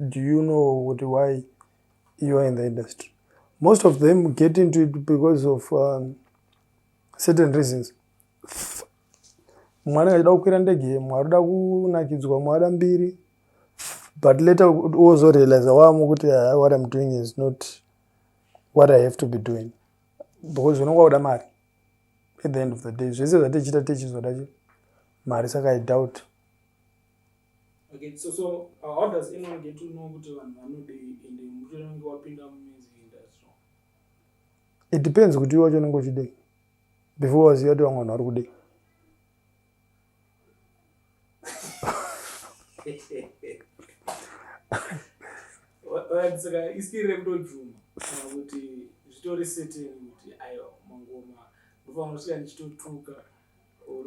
Do you know kuti why you are in the industry? Most of them get into it because of um, certain reasons. Th mwana achida kukwira ndege mwe arikuda kunakidzwa mwe ada mbiri but later wozorealiza wamo kuti ah, what im doing is not what i have to be doing because unonga uda mari at the end of the day zvese zvatichita tichizoda mari saka i doubt Okay, so so uh, how does anyone get to know kuti vanhu vanodei ende muti unenge wapinda mumazi industry? It depends kuti iwe wacho unenge uchidei before waziva kuti vamwe vanhu vari kudei. saka iskiri rekutobvuma kana kuti zvitori seteni kuti ayo mangoma ndofanira kusvika ndichitotuka or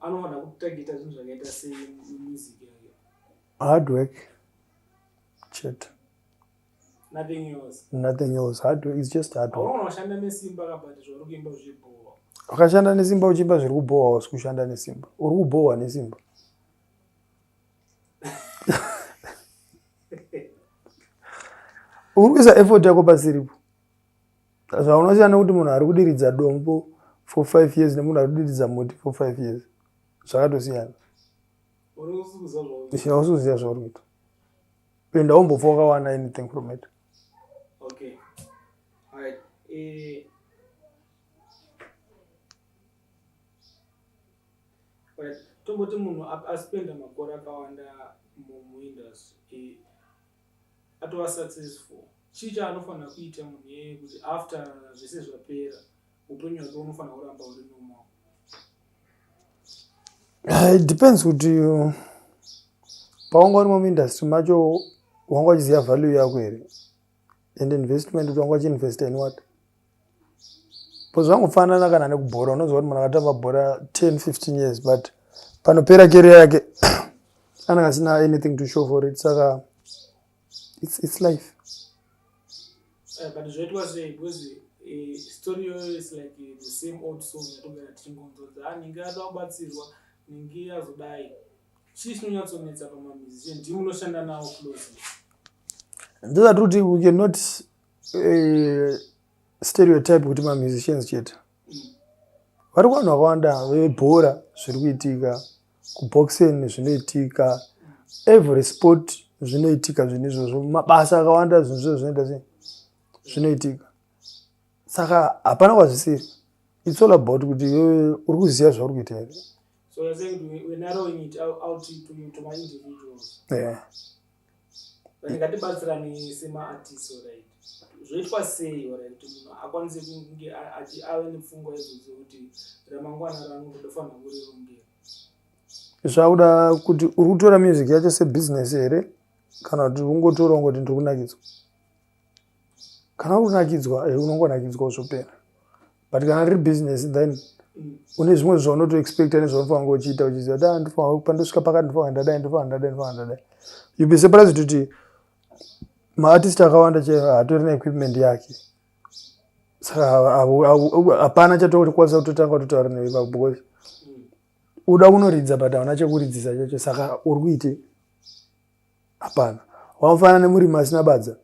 anofanira kutargeta zvinhu zvakaita semusic yake hard work chete nothing else nothing else hard work is just hard work unashanda nesimba kabati zvauri kuimba zvibhowa wakashanda nesimba uchiimba zviri kubhowa wasi kushanda nesimba uri kubhowa nesimba uri kuisa effort yako pasiripo zvaunosiyana kuti munhu ari kudiridza dombo for five years nemunhu ari kudiridza muti for five years zvakatosiyana hausi kuziva zvauri kuita penda wombofa wakawana anything from it okay. right. e... right. tomboti munhu aspenda makore akawanda mumuindustry atova successful chii chaanofanira kuita munhu iyeye kuti after zvese zvapera upenyu hwake unofanira kuramba uri normal ah, it depends kuti uh, pawanga urimo muindustry macho wanga uchiziva value yako here and investment kuti wanga uchiinvesta in what bcause vangofanana kana nekubhora unoziva kuti munhu akatamba bhora 10 15 years but panopera keria yake anenge asina anything to show for it saka it's, it's life eh, but zvoitwa sei because eh, story yoyo is like eh, the same old song yatogara tichingonzodza anenge ah, ada kubatsirwa ninge azodai chii chinonyatsonetsa pamamizice ndimunoshanda nawo close ndizati kuti we cannot eh, stereotype kuti mamusicians chete vari kuvanhu vakawanda vebhora zviri kuitika kuboxen zvinoitika every sport zvinoitika zvinhu izvozvo mabasa akawanda zvinhu izvozvo zvinoita sei zvinoitika saka hapana kwazvisiri its all about kuti iwewe uri kuziva zvauri kuita here so you're saying we're narrowing it out to, to, to my individuals yeah ndingatibatsirani semaartist orit zvoitwa sei orit kuti munhu akwanise kunge ave nepfungwa idzodzo kuti ramangwana rangu ndofanira kurirongera zvakuda kuti uri kutora music yacho sebusiness here kana kuti ungotoronga kuti ndiri kunakidzwa kana unakidzwa eh, unongonakidzwa zvopera but kana riri business then mm. une zvimwe zvaunotoexpecta nezvaunofana kunge uchiita uchiziva kuti ah, ndofana pandosvika pakati ndofana ndadai ndofana ndadai ndofana ndadai you be surprised kuti maartist akawanda che hatori neequipment yake saka hapana chatokwanisa kutotanga kutotaura newe ipapo because mm. uda kunoridza but hauna chekuridzisa chacho saka uri kuitei hapana wakafanana nemurimi asina badza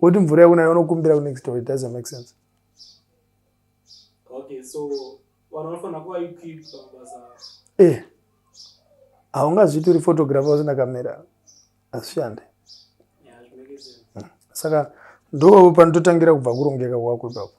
woti mvura yakunayo unokumbira kunext door it doesn't make sense okay so vanhu vanofanira kuva equipped pamabasa eh haungazviti uri photographer usina kamera hazvishande yeah, hmm. saka ndo panototangira kubva kurongeka kwako ipapo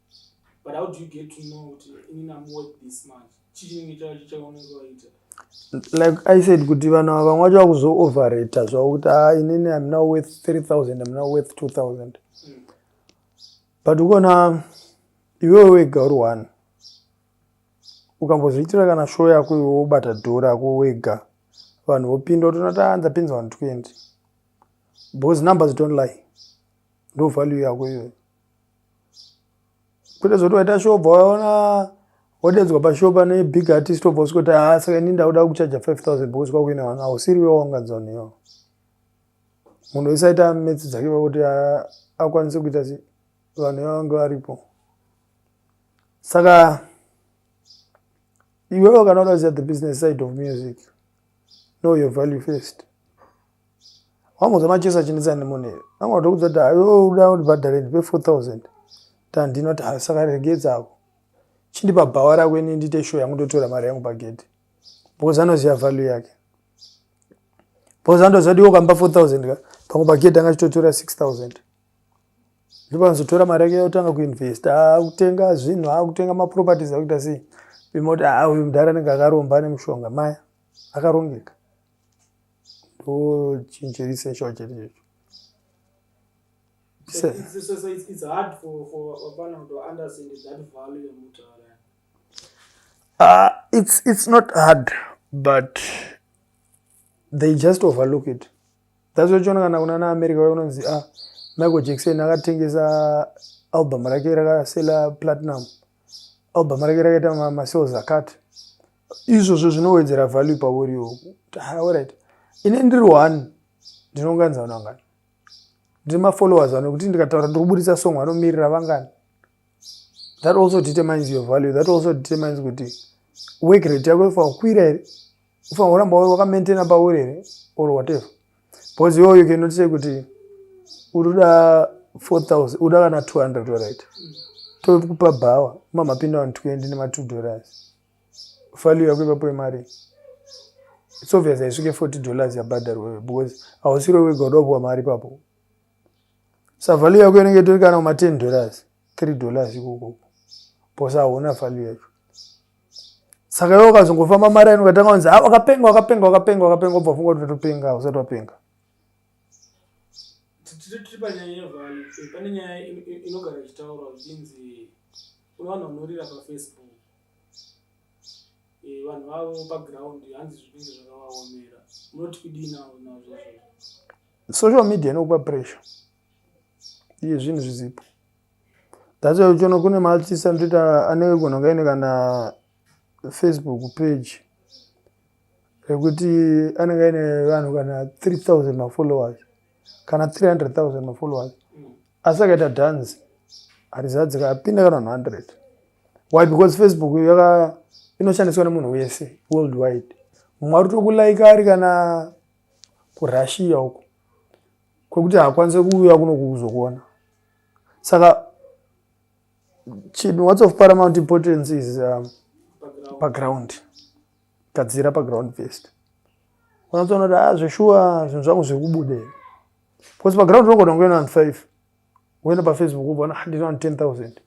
but how do you get to know kuti ini namu worth this much chii chinenge chava chichaonenge waita like i said kuti vanhu ava vamwe vacho vakuzooverater zvavo kuti a ah, inini am now worth 3000 am now worth 2000 mm. but ukona iwewe wega uri one ukambozviitira kana show yako iwe wobata dhora yako wega vanhu vopinda utoona ta ndapinza vanhu 20 because numbers don't lie ndo value yako iyoyo kwete zoti waita show bva waona wadedzwa pashow pane big artist obva usiko kuti haa saka ini ndakuda kuchaja 5000 because kwakuina vanhu hausiri wewa wangadzaniyo munhu wese aita metsi dzake vakuti akwanise kuita si vanhu vavange varipo saka iwewe kana udaziva the business side of music know your value first wangonzwa machesa achinetsa nemunhu here vanga vatokudza kuti ayo uda undibhadhare ndipe 4000 tandinoti ha saka regedzako chindipa bhawa rako ini ndiite show yangu ndotora mari yangu pagedhi because anoziva value yake because andoziva kuti iwo kampa 4000 ka pamwe pagedhi anga achitotora 6000 ndipo anozotora mari yake yotanga kuinvesta akutenga ah, zvinhu akutenga ah, maproperties akuita sei pima kuti aa ah, uyu mudhara anenge akaromba ane mushonga maya akarongeka ndochinjerisesho chete checho Uh, it's, it's not hard, but they just overlook it. That's why uchiona kana kunana America vayo unonzi ah, Michael Jackson akatengesa album rake rakasela platinum. Album rake rakaita ma, ma sales akati. Izvozvo zvinowedzera value pauri iwe. Ah, all right. Ine ndiri one ndinonganza vanhu vangani. Ndiri ma followers vanhu kuti ndikataura ndiri kuburitsa song vanomirira vangani. That also determines your value. That also determines kuti work rate yako ifa kwira here. ufanira kuramba wakamaintaina pauri here or whatever because iwe you cannot say kuti uri kuda 4000 uda kana 200 dorit tokupa bhawa mamapinda vanhu 20 nema2 dollars value yako ipapo yemari it's obvious haisvike 40 dollars yabhadharwewe because hausiro wega udakupiwa mari ipapo sa value yako inenge itori kana kuma 10 dollars 3 dollars ikokoko bcause hauna value yacho saka iwe ukazongofamba maraini ukatanga kunzi a ah, wakapenga wakapenga wakapenga wakapenga ubva funga kuti topenga usati wapenga tiri panyaya yevhale pane nyaya inogara ichitaurwa zvichinzi kune vanhu vanorira pafacebook eh, vanhu vavo paground hanzi zvinenge zvakavaomera munoti kudii nazvo social media inokupa pressure iye zvinhu zvizipo that's why uchiona kune maartist anotoita anenge gona kaine kana facebook page rekuti anenge aine vanhu kana 3000 mafollowers kana 300000 mafollowers asi akaita dance harizadzika apinda kana vanhu 100 why because facebook yaka inoshandiswa nemunhu wese world wide mumwe ari tokulaika ari kana kurussia uko kwekuti haakwanise kuuya kuno kukuzokuona saka chinhu whats of paramount importance is um, paground gadzira paground first unatsoona kuti a ah, zveshuwa zvinhu zvangu zviri kubude because paground unogona kunge na five woenda pafacebook ubona ah, ndina ten thousand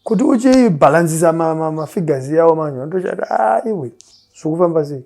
kuti uchibhalansisa mafigures yawo manje vanotochati aiwe ah, zviri kufamba sei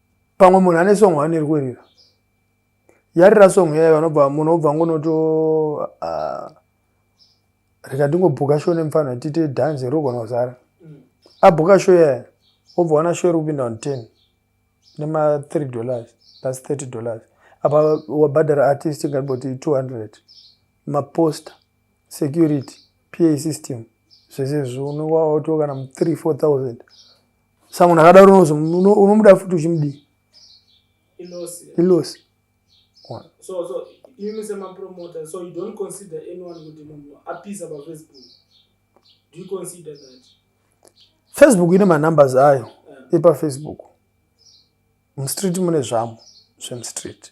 pamwe munhu ane song hwani iri kuerira yarira song yayo vanobva munhu obva ngonoto ah, reka ndingobhuka show nemufana tiite dance rogona kuzara mm. abhuka show yayo obva wana show iri kupinda on ten nema three dollars plus thirty dollars apa wabhadhara artist ingaboti two hundred maposter security pa system zvese zvonowaotiwo kana three four thousand sa munhu akadaro unozo unomuda futi uchimudii ilosi so so imi semapromoter so you don't consider anyone kuti munhu apisa pafacebook do you consider that facebook ine manumbers ayo yeah. epafacebook mstreet mune zvamo zvemstreet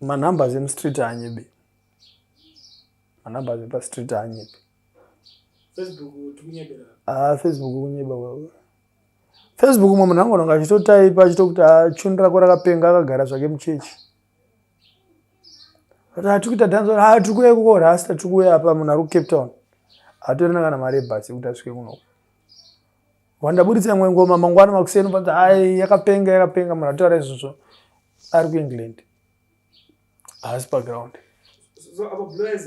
manumbers emustreet haanyebi manumbers epastreet haanyebi ah, facebook kunyeba wewe facebook mwe munhu angononga achitotaipa achitokuti achundu ah, rako rakapenga akagara zvake muchechi atikuita ah, danzo ha tiri kuuya kuko rasta tiri kuuya apa munhu ari kucape town hatorina kana mari ebhasi yekuti asvike kunoku wandaburitsa imwe ngoma mangwana makuseni ubati ai yakapenga yakapenga munhu atotaura izvozvo ari kuengland haasi paground so apa blaz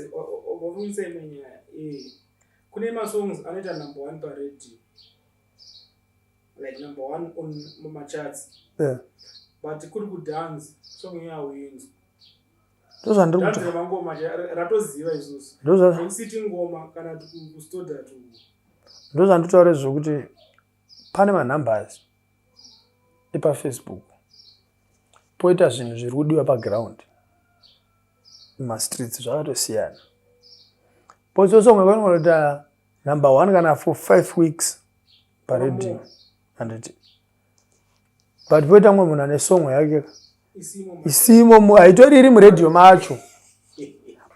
wavunisa imwe nyaya eh, kune masongs anoita number one paradio like number one on mumachats but kuri kudance song yawinzwa ndozvandiri kuti mangoma ratoziva isusu ndositi ngoma kana kustoda tu ndozvanditaure zvekuti pane manumbers epafacebook poita zvinhu zviri kudiwa paground mumastreets zvakatosiyana pozosonga kwanoita number one kana for five weeks paredio anditi but poita mumwe munhu ane songo yake isimo haitori iri muradio macho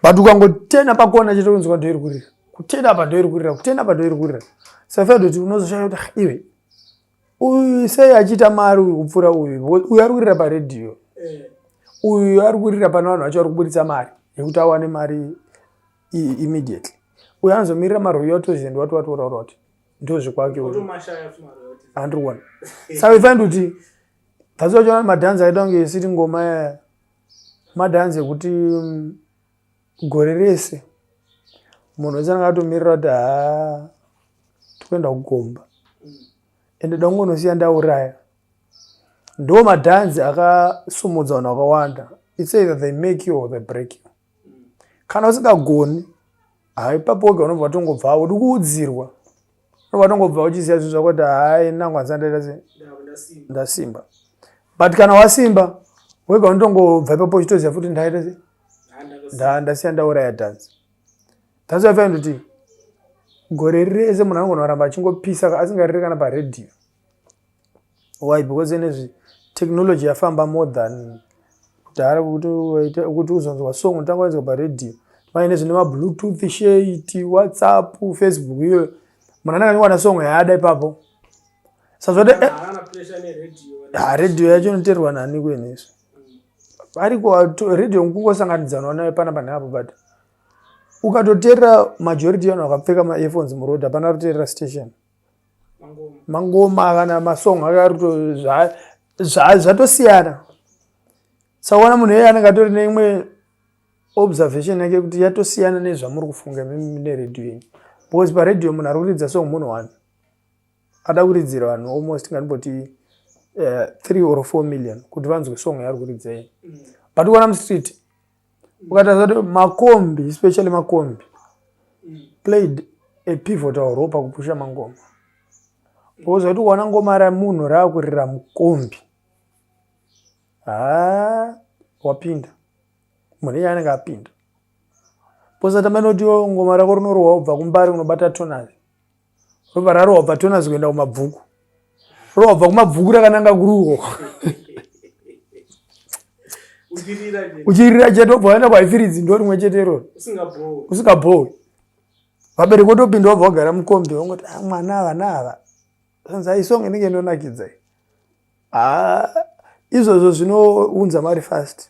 but ukangotena pakona chete kunzwa ndoiri kurira kutena apa ndoiri kurira kutena apa ndoiri kurira safaa kuti unozoshaya kuti ah, iwe uyu sei achiita mari uyu kupfuura uyu uyu ari kurira paradio eh. uyu ari kurira pane vanhu vacho vari kuburitsa mari yekuti awane mari immediately uyo anozomirira maruyotozend wati wati uraura kuti ndozvikwake andiri kuona saka ifaindi kuti thats wachiona madhanzi aita kunge isiri ngoma yaya madhanzi ekuti mm, gore rese munhu wese anenge atomirira kuti haa tikuenda kugomba ende da kungonosiya ndauraya ndo madhanzi akasumudza vanhu vakawanda its either they make you or they break you kana usingagoni hai papo wega unobva watongobva udi kuudzirwa unobva watongobva uchiziva zvinhu zvako kuti hai nangu handisandaita ndasimba but kana wasimba wega unotongobva ipapo uchitoziva futi ndaita se ndasiya ndauraya dhanzi dhanzi waifanira kuti gore rese munhu anogona kuramba achingopisa asingarire kana paredhiyo why because enezvi technology yafamba more than kudhara kuti uzonzwa song unotanga wainzwa paradio vaine zvine mabluetooth shate whatsapp facebook iyoyo munhu anenge anyowana song yaada ipapo sazvode eh, ah, radio yacho inoterwa nani kuenesu ariko radio kungosanganidzanwa nayo pana pane apo but ukatoterera majority yanu akapfeka maearphones muroad hapana kuterera station mangoma kana masong akaruto zvatosiyana zva, zva sakuona munhu eye anenge atori neimwe observation yake kuti yatosiyana nezvamuri kufunga mine radio yenyu because paradio munhu ari kuridza song munhu one ada kuridzira vanhu almost ngandiboti uh, eh, three or four million kuti vanzwe song yaari kuridza yenyu mm. but kuona mustreet ukatarisa kuti makombi especially makombi played a pivotal role pakupusha mangoma because waiti ukaona ngoma ramunhu raakurira mukombi haa wapinda munhu iye anenge apinda posatamba inoti ngoma rako rinorowa ubva kumbari unobata tonazi ropa rarova tonasi kuenda kumabvuku rova bva kumabvuku rakananga kuruho uchirira chete obva waenda kwaifiridzi ndo rimwe chete iroro usingabhowi vabereki otopinda wabva wagara mukombi wangoti ah, mwana ava naava anzi aisong ah, inenge inonakidza ah, izvozvo zvinounza mari fast